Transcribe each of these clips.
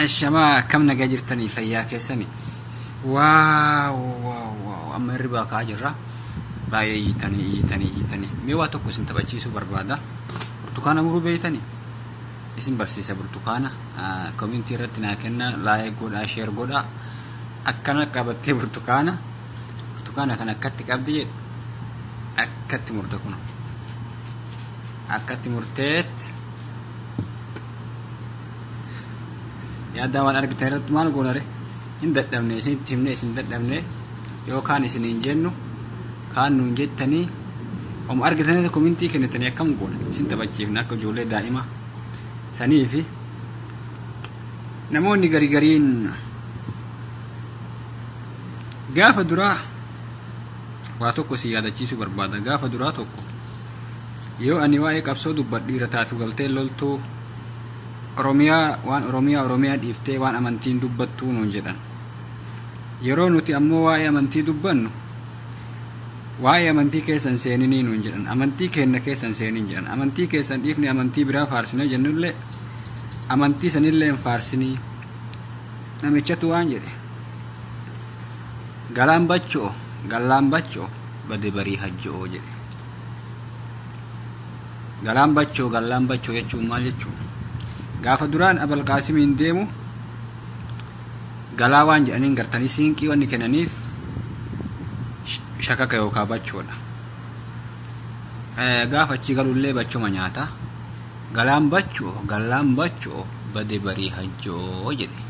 Ashamaa akkam nagaa jirtanii fayyaa keessani. Waaw waaw waaw amma hirribaa ka'aa jirra. Baay'ee iyyitanii iyyitanii iyyitanii. Mee waa tokko isin taphachiisuu barbaada. Burtukaana muruu beektanii? Isin barsiisa burtukaana. Komintii irratti naa kenna laayik godhaa sheer godhaa. Akkana qabattee burtukaana. Burtukaana kan akkatti qabdi jedhu. Akkatti murte kun. Akkatti murteetti. yaaddaa waan argitan irratti maal goonare hin dadhabne isinitti himne isin dadhabne yoo kaan isin hin jennu kaan nuun jettanii om argitanii komintii kennitanii akkam goona isin taphachiifna akka ijoollee daa'ima sanii fi namoonni garii gariin gaafa duraa waa tokko si yaadachiisuu barbaada gaafa duraa tokko Yoo ani waa'ee qabsoo dubbadhu dhiira taatu galtee loltuu Oromiyaa waan Oromiyaa Oromiyaa dhiiftee waan amantii hin dubbattuu nuun jedhan. Yeroo nuti ammoo waa'ee amantii dubbannu waa'ee amantii keessa hin seeninii nuun jedhan. Amantii keenna keessa hin seenin jedhan. Amantii keessan dhiifnee amantii biraa faarsinee jennullee amantii sanillee hin faarsinii. Namichatu waan jedhe. Galaan bachoo, gallaan bachoo, bade barii hajjo'oo jedhe. Galaan bachoo gallaan bachoo jechuun maal jechuudha? Gaafa duraan Abal Qaasimiin deemu galaa waan jedhaniin gartanii siinqii wanni kennaniif shakaka yookaan bachoodha. Gaafa achii galullee bachoma nyaata. Galaan bacho gallaan bacho bade barii hajjoo jedhe.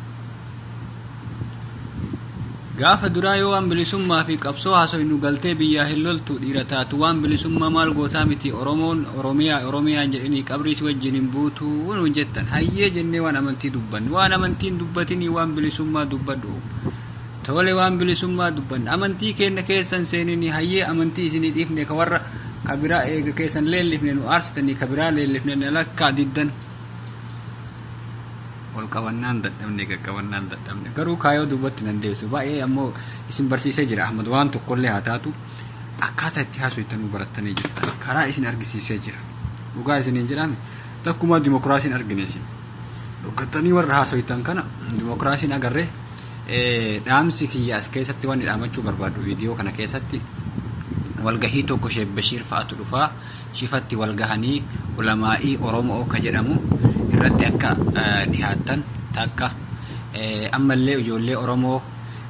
Gaafa duraa yoo waan bilisummaa fi qabsoo haasoynu galtee biyyaa hin loltu dhiira taatu waan bilisummaa maal gootaa miti Oromoon Oromiyaa Oromiyaa hin jedhinii qabrii si wajjin hin buutu nuun jettan hayyee jennee waan amantii dubbanne waan amantii hin dubbatinii waan bilisummaa dubbadhu Tole waan bilisummaa dubbanna. Amantii keenna keessa hin seeninii, hayyee amantii isinii dhiifne ka warra ka biraa eega keessan leellifne nu aarsitanii ka biraa leellifne na lakkaa diddan. Ol qabannaan dadhabne, gad qabannaan dadhabne. Garuu kaayoo duubatti nan deebisu. Baay'ee ammoo isin barsiisee jira Ahmad waan tokkollee haa taatu akkaataa itti haasoftanuu barattanii jirtan. Karaa isin argisiisee jira. Dhugaa isiniin jedhaame takkumaa dimokiraasiin argine isin. Dhokkattanii warra haasoftan kana dimokiraasiin agarree Dhaamsi kiyya as keessatti wanni dhaamachuu barbaadhu viidiyoo kana keessatti walgahii tokko Sheek Bashiir fa'atu dhufaa shifatti walgahanii ulamaa'ii Oromoo ka jedhamu irratti akka dhihaattan takka ammallee ijoollee Oromoo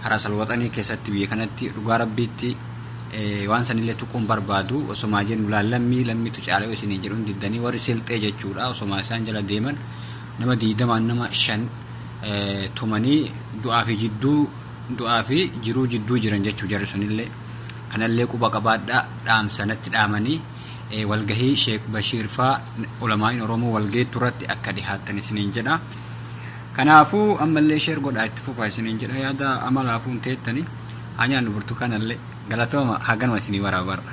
Haraasal Waxanii keessatti biyya kanatti dhugaa rabbiitti waan sanillee tuquun barbaadu osomaa jennu laal lammii lammitu caalee isiniin jedhuun diddanii warri silxee jechuudha osomaa isaan jala deeman nama diidamaan nama shan tumanii du'aa fi jidduu du'aa fi jiruu jidduu jiran jechuu jarri sunillee kanallee quba qabaadhaa dhaamsa natti dhaamanii walgahii sheek bashiir faa ulamaa'iin oromoo walgeettu irratti akka dhihaattan isiniin jedha kanaafuu ammallee sheer godhaa itti fufaa isiniin jedha yaada amalaafuun teettanii haa nyaannu burtukaanallee galatooma haganuma isinii waraabarra